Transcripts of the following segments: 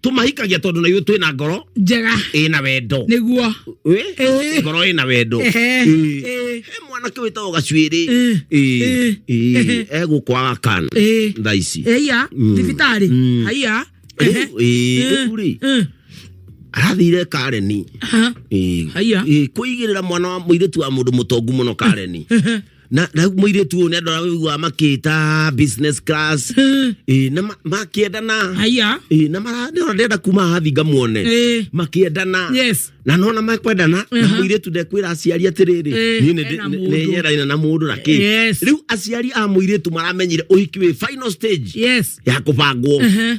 tumahikagia tondu na ithuĩ twĩ na ngoro njega ĩ na wendo nĩguo Ĩ? Ĩ. ngoro ĩ na wendo Ehe. Ĩ. Ĩ. He mwanake wĩtagwo gacuĩrĩ Ĩ. Ĩ. Ĩ. egũkwaga kana Ĩ. thaa ici eia Mm. thibitarĩ Mm. aia Rĩu, ĩ, rĩu rĩ arathire kareni Ĩ. aia Ĩ, kũigĩrĩra mwana wa mũirĩtu wa mũndũ mũtongu mũno kareni na na rĩu mũirĩtu ũyũ nĩ andũ arĩa ũiguaga makĩta business class ĩ na ma- makĩendana haya ĩ na mara- nĩ ona ndĩrenda kuma haha thi ngamuone Eh. makĩendana yes na nona makwendana na Aha. mũirĩtu ndekwĩra aciari atĩrĩrĩ Eh, niĩ ena mũndũ. nĩnyeraina na mũndũ na kĩ Yes. rĩu aciari a mũirĩtu maramenyire ũhiki wĩ final stage yes ya kũbangwo Aha.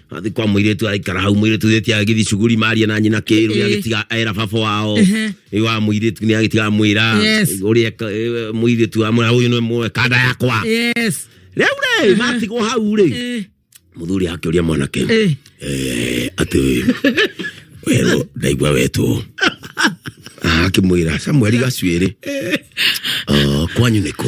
athi kwa muiritu aikara hau muiritu theti agithi shughuli maria na nyina kiru ni agitiga era baba wao wa muiritu ni agitiga mwira uri muiritu amwe huyu ni mwe kada yakwa yes riu ri matigwo hau ri muthuri akiuria mwanake eh ati wero ndaigua wetwo akimwira samueli gacuiri kwanyu nä kå